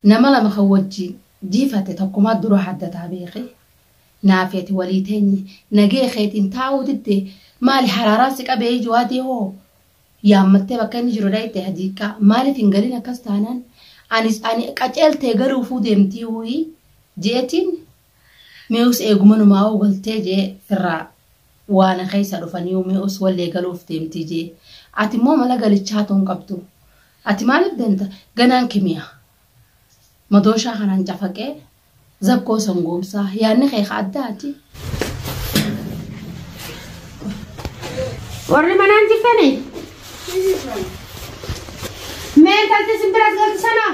Nama lama kan wajjiin jiifatte takkumaa dura haddataa beeki. Naafi ati walii teenye nagee keetiin taa'uu didde maali haraaraan si qabee iji waadii hoo yaammattee bakka inni jiru dhayxee hadiiqqaa maaliif hin galin akkas taanaan anis ani qaceeltee galuufuu deemtii uuyi jeetiin Mee us eeguma numaa'uu galtee jee firraa waana keessa dhufaniiyu mee us wallee galuuf deemtii jee ati immoo mala galichaatu hin qabdu ati maaliif deemta ganaan kimiya madooshaa kanaan cafaqee zakkoo sangoomsaa yaanni kee ka addaati. Warri manaan jirtanii? Mee intalti isin biras galti sana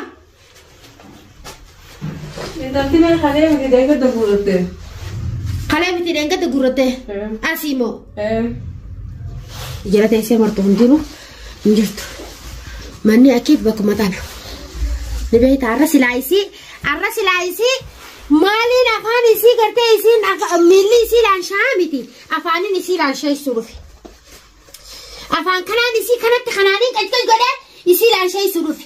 Intalti mee kalee miti deeggarta guuratte. Kalee miti deeggarta guuratte. Asii moo. Jala teessee martu hin jiru hin jirtu. Manni achiif bakkuma tana. Ni beekta arra silaa isii arra silaa isii maaliin afaan isii gartee isiin miilli isii laanshaa miti afaaniin isii laanshaa isuu dhufe. Afaan kanaan isii kanatti kanaaniin qalqal godhee isii laanshaa isuu dhufe.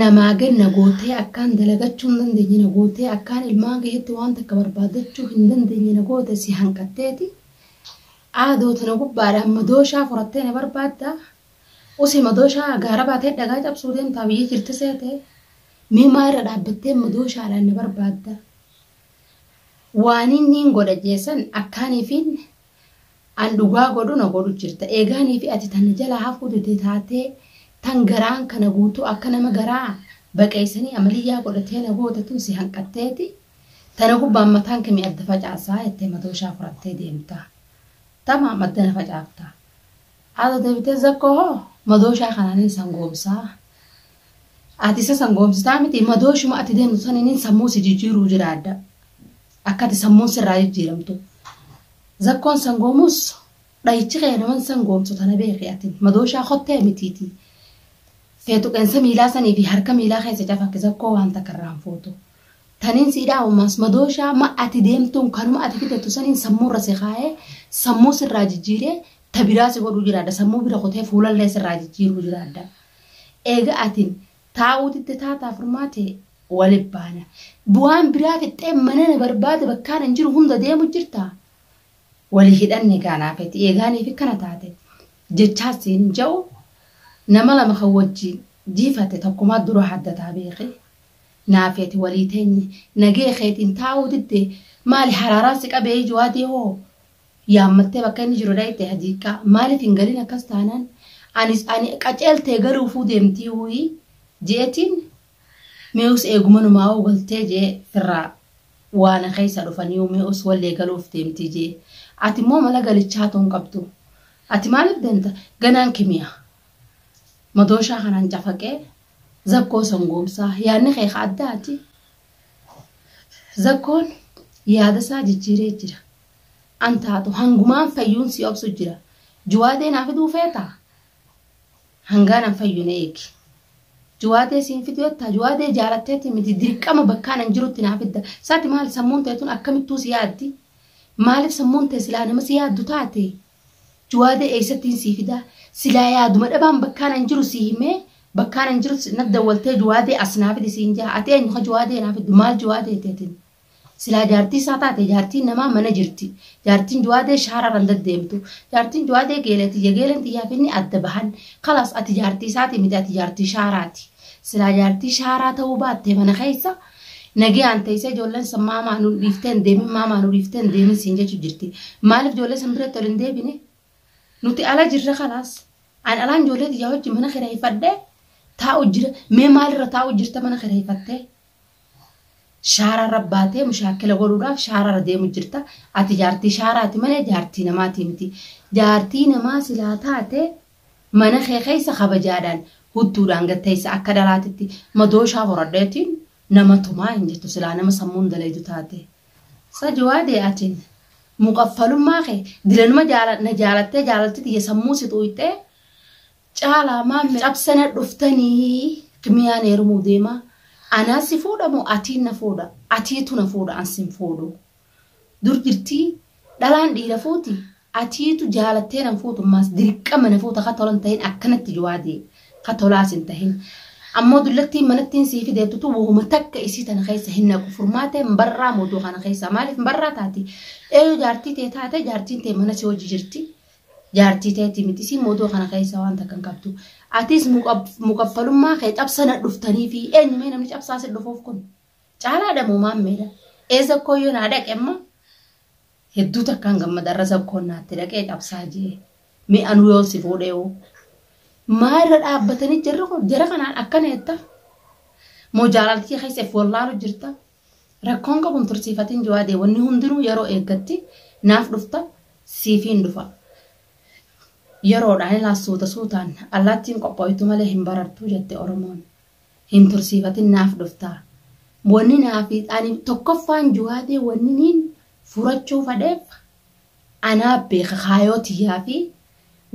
namaa gad na gootee akkaan dalagachuu hin dandeenye na gootee akkaan ilmaan keetti waan takka barbaadachuu hin dandeenye na goote si hanqatteeti aadoo tana gubbaadhaan madooshaa furattee na barbaadda usi madooshaa gaara baatee dhagaa cabsuu deemtaa biyya jirti seete mee maa irra dhaabbattee madooshaadhaan na barbaadda waan inni hin godha jeessan akkaaniifiin An dhugaa godhu na godhu jirta. Eegaa ani fi ati tan na jalaa hafuu dide taatee tan garaan kana guutuu akka nama garaa baqeeysanii amaliyyaa godhatee na goota tun si hanqatteeti tana gubbaan mataan kee mi adda facaasaa jettee madooshaa furattee deemta. Tamaam adda na facaafta. Haadha deebitee zakkoo hoo madooshaa kanaanin san goomsaa. Ati isa san goomsitaa miti madooshuma ati deemtu saniinin sammuu si jijjiiruu jiraadha. Akka ati sammuun sirraa jijjiiramtu. Zakkoon sangoomus dhayichi kee naman sangoomsu tana beeki atin. Madooshaa kottee mitiiti. Feetu qeensa miilaa sanii fi harka miilaa keessa cafaqi zakkoo waan takka irraa hin fuutu. Taniin sii dhaabu maas madooshaa ma ati deemtuun kanuma ati fidattu saniin sammuu irra si kaayee sammuu sirraa jijjiiree ta biraa si godhuu jiraadha. Sammuu bira kutee fuulallee sirraa jijjiiruu jiraadha. Eega atin Taa'uu didde taataa furmaate wali baana. Waan biraa fixxee mana na barbaade bakkaan hin jiru hunda deemu jirta? Wali hidhanne gaa naa feti eegaaniif ikkana taate jechaa siin hin ja'u nama lama kan wajjiin jiifatte takkumaa dura haddataa beeki naa feti walii teenye nagee keetiin taa'uu didde maali haraaraan si qabee ijoo adii hoo yaammattee bakka inni jiru dhayxe hadiiqaa maaliif hin galin akkas taanaan anis ani qaceeltee galuufuu deemtii wuyii jeetiin mee us eegumanumaa hoo galtee jee firraa waana keessa dhufanii mee us wallee galuuf deemtii jee ati immoo mala galichaa tuun qabdu ati maaliif deemta ganaan kimiya madooshaa kanaan cafaqee zakkoo sangoomsaa yaanni kee ka addaati zakkoon yaadasaa jijjiiree jira. an taatu hangumaan fayyuun si obsu jira juwaatee naa fiduu feeta hangaan an fayyu na eegi juwaatee siin fidu jettaa juwaatee jaalatteeti miti dirqama bakkaan an jirutti naa fidda saati maal sammuun teetun akkamittuu si yaaddi maaliif sammuun tee silaa nama si yaaddu taate juwaatee eessattiin sii fidaa silaa yaaduma dhabaan bakkaan an jiru sii himee bakkaan an jiru na dawwaltee juwaatee as naa fidi siin jaa ati eenyu ka juwaatee naa fiddu maal juwaatee teetin Silaa jaartii isaa taate jaartiin namaa mana jirti. Jaartiin du'aadee shaarara hin daddeemtu. Jaartiin du'aadee geelee tiyya geeleen tiyyaa finni adda bahan. Kalaas ati jaartii isaati miti ati jaartii shaaraati. Silaa jaartii shaaraa ta'uu baattee mana keessa nagayaan teessee ijoolleen san maamaa nu dhiiftee hin deemin maamaa nu dhiiftee hin deemin siin jechuu jirti. Maaliif ijoollee san biratti ol hin deebine? Nuti ala jirra kalaas. An alaan ijoollee tiyyaa hojii mana kireeffadhee taa'u jira. Mee maalirra taa'u jirta mana kireeffattee? Shaara irra baatee mushaakkila godhuudhaaf shaara irra deemu jirta. Ati jaartii shaaraati malee jaartii namaatii miti. Jaartii namaa silaa taate mana kee keessa kabajaadhaan hudduudhaan gad teessa akka dhalaatitti madooshaa horadheetiin nama tumaa hin jettu silaa nama sammuun dalaydu taate. Sa jawaadee atiin muqaffalummaa kee dilanuma jaala na jaalattee jaalalti tiyya sammuu si xuuxxee Caalaa maammi cabsana dhuftanii kimiyaan heerumuu deema anaa si fuudha moo atiin na fuudha atiitu na fuudha an sin fuudhu dur jirtii dhalaan dhiira fuuti atiitu jaalattee nan fuutu maas dirqama na fuuta ka tolan tahin akkanatti jawaadee ka tolaas hin tahin ammoo dullattiin manattiin sii fideettutu wahuma takka isii tana keessa hin naqu furmaatee hin barraa mooduu kana keessaa maaliif hin barraa taati eeyuu jaartii tee taate jaartiin tee mana si hojii jirti Jaartii teeti miti isiin mootoo kana keessa waan takka hin qabdu. Atis mukaffalummaa kee cabsana dhuftanii fi eenyu mee namni cabsaa si dhufuuf kun? Caalaadha moo maammeedha? Ee zakkoo yoo naa dhaqe amma hedduu takkaan gammada irra zakkoon naatti dhaqee cabsaa jee. Mee anuu yoon si fuudhee hoo? Maa irra dhaabbatanii jarri kun jara kanaan akkana jetta? Moo jaalaltii keessa if wallaalu jirta? Rakkoon qabu hin tursiifatin Jawaadee wanni hundinuu yeroo eeggatti naaf dhufta siifiin dhufa. Yeroodhaan ilaa suuta suutaan allaattiin qophooytu malee hin barartuu jette Oromoon. Hin tursiifatin naaf dhufta. Wanni naaf ani tokkoffaan Jawaadee wanni niin furachuu fadheef Anaa beeka kaayoo tiyyaa fi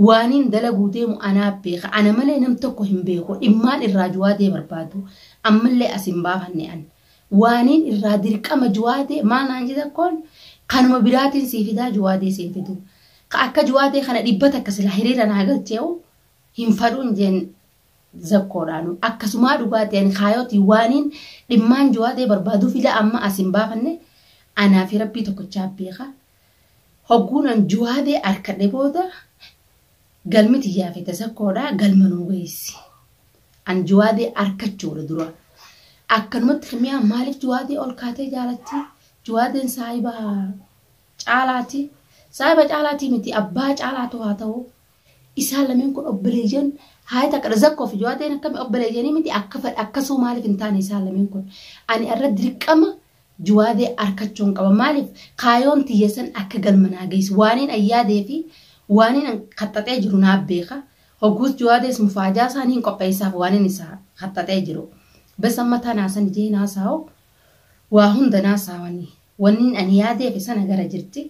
waaniin dalaguu deemu anaa beeka. Ana malee nam tokko hin beeku. Dhimmaan irraa Juwaadee barbaadu. Ammallee as hin baafanne an. Waaniin irraa dirqama Juwaadee maal naan jeta koon kanuma biraatiin sii fidaa Juwaadee siin fidu. Ka akka Juwaadee kana dhibba takka silaa hiriira naa galchee'u hin fadhuun jeen zakkoodhaanu akkasumaa dhugaa ta'een kaayootii waaniin dhimmaan jawaa ta'e barbaaduu fila amma as hin baafanne anaa fi rabbii tokkochaa beeka hogguunan jawaadee harkadhe booda galmi tiyyaa fi tasakkoodha galma nuu geessi an jawaadee harkachuudha dura akkanumatti kimiyaa maaliif jawaadee ol kaatee jaalatti jawaadeen saayibaa caalaati saayiba caalaatii miti abbaa caalaatu haa ta'u Isaan lameen kun obboleeyyan haaya takkadha zakkoo fi jawaateen akkami obboleeyyanii miti akka fedha akkasuma maaliif hin taane isaan lameen kun ani irra dirqama jawaadee arkachuun qaba maaliif kaayoon tiyya san akka galma naa geessu waaniin ayyaadee fi waaniin an kaxxaxee jiru naa beeka hogguus jawaadees mufaajaa isaan hin qopheessaaf waaniin isaa kaxxaxee jiru bes amma tanaa san ijee naa saa'u waa hunda naa saawanii wanniin ani yaadeef sana gara jirti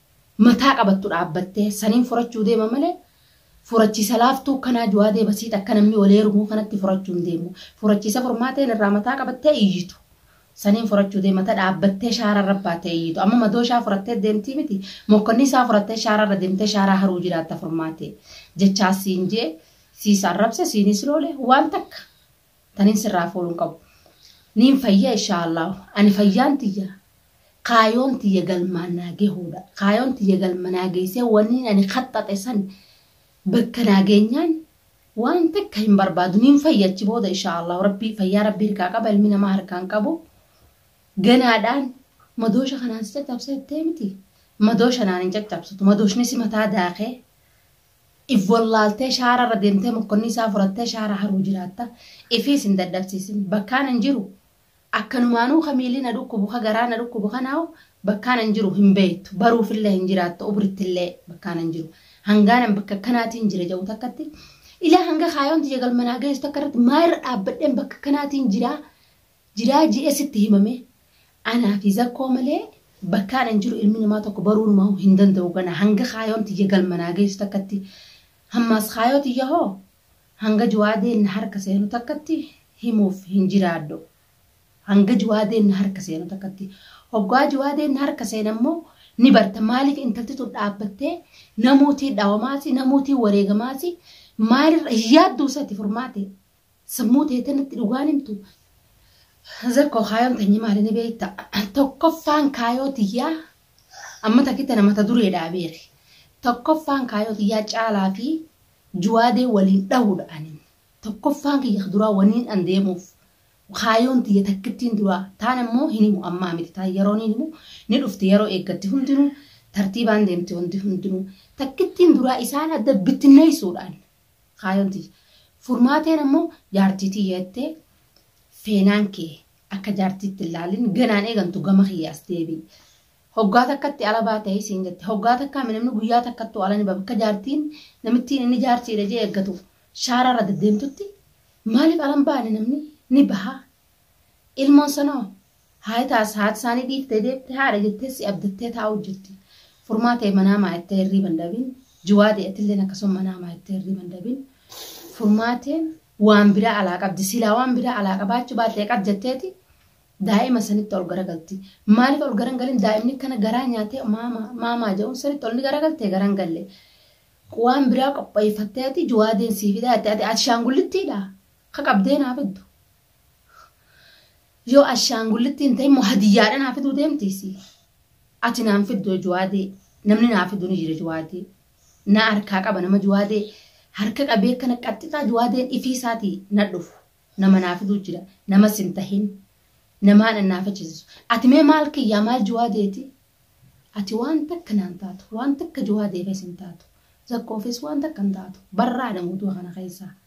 mataa qabattu dhaabbattee saniin furachuu deema malee furachiisa laaftuu akkanaa juwaadee basiit akka namni wal eerumuu kanatti furachuu hin deemu. Furachiisa furmaateen irraa mataa qabattee iyyitu. Saniin furachuu deema ta dhaabbattee shaara irra baatee iyyitu. Amma madoo shaa furattee deemtii miti mokkonni isaa furattee shaara irra deemtee shaaraa haruu jiraatta furmaatee. Jechaa siin jee siis arrabse siinis loole waan takka. tanin sirraa fuudhu hin qabu. Niin fayya inshaa Allaahu. Ani fayyaan tiyya kaayoon tiyya galmaan naa gehuudha. Kaayoon tiyya galma naa geessee wanniin ani kaxxaxe san bakka naa geenyaan waan takka hin barbaadu. Niin fayya achi booda inshaa Allaahu. Rabbii fayyaa rabbii harkaa qaba ilmi namaa harkaa hin qabu. Ganaadhaan madoosha kanaan si caccabsee jettee miti. Madoosha naan hin caccabsitu. Madooshni si mataa daakee. If wallaaltee shaara irra deemtee mokkonni isaa furattee shaara haruu jiraatta. Ifiis hin dadhabsiisin. Bakkaan an jiru akkanumaanuu ka miilli na dhukkubu ka garaa na dhukkubu kanaahu bakkaan an jiru hin beektu. Baruufillee hin jiraattu obrittillee bakkaan an jiru. Hangaan an bakka akkanaatiin jira ja'u takkatti ilaa hanga kaayoon tiyya galma naa geessu takka irratti maa irra dhaabbadheen bakka akkanaatiin jiraa jiraa je'ee sitti himamee anaa fi zakkoo malee bakkaan an jiru ilmi namaa tokko baruunumaahuu hin danda'u ganaa hanga kaayoon tiyya galma naa geessu takkatti hammaas kaayoo tiyya hoo hanga juwaadeen na harka seenu takkatti himuuf hin jiraadhu hanga juwaadeen na harka seenu takkatti hoggaa juwaadeen na harka seena immoo ni barta maaliif intalti tun dhaabbattee namuutii dhawamaasi namuutii wareegamaasi maalirra hin yaadduu isati furmaate Sammuu teetan itti dhugaan himtu. Zakkoo kaayoon teenye maali ni beekta. Tokkoffaan kaayoo tiyyaa amma takki tana mata dureedhaa beeki. Tokkoffaan kaayoo tiyyaa caalaa fi juwaadee waliin dhahuudha anin. Tokkoffaan kiyya duraa waniin an deemuuf kaayoon tiyya takkittiin duraa taan ammoo hin himu ammaa miti taan yeroo hin himu ni dhufti yeroo eeggatti hundinuu tartiibaan deemti hundi hundinuu takkittiin duraa isaan adda bittinneessuudhaan Kaayoon tiyya. Furmaateen ammoo jaartii tiyya jettee feenaan kee akka jaartiitti hin laalin ganaan eegantu gama kiyya as deebi'i. Hoggaa takkatti ala baatee siin jette. Hoggaa takkaa mi namni guyyaa takkattuu ala ni ba'a. Bakka jaartiin namittiin inni jaartiidha jee eeggatu shaaraa irra deddeemtutti maaliif ala hin baane namni ni baha. Ilmoon sanoo Haay taas haati isaanii dhiiftee deemte haadha jettee si abdattee taa'uu jirti. Furmaa ta'e manaa maayattee hirriiba hin dhabin. Jiwaadee atilleen akkasuma manaa maayattee hirriiba hin dhabin. Furmaateen waan biraa alaa qabdi. Silaa waan biraa alaa qabaachuu baattee qab jetteeti daa'ima sanitti ol garagalti. Maaliif ol garan galin daa'imni kana garaa nyaatee maamaa maamaa jedhuun sanitti ol ni garagaltee garan galle. Waan biraa qopheeffatteeti jiwaadeen sii fidaa jettee ati ashaangullittiidha. Ka qabdee naa fiddu. Yoo ashaangullittii hin ta'in moo hadiyyaadha naa fiduu deemti si. Ati naan fiddu juwaadee namni naa fidu ni jira juwaadee. Naa harkaa qaba nama juwaadee harka qabee akkana qaxxixaa juwaadeen ifii isaatii na dhufu nama naa fiduu jira nama sin tahin namaa dhannaafachiisu. Ati mee maal kiyyaa maal juwaadeeti? Ati waan takka naan taatu waan takka juwaadeefes hin taatu zakkoofis waan takka hin taatu barraadha muuduu kana keessaa.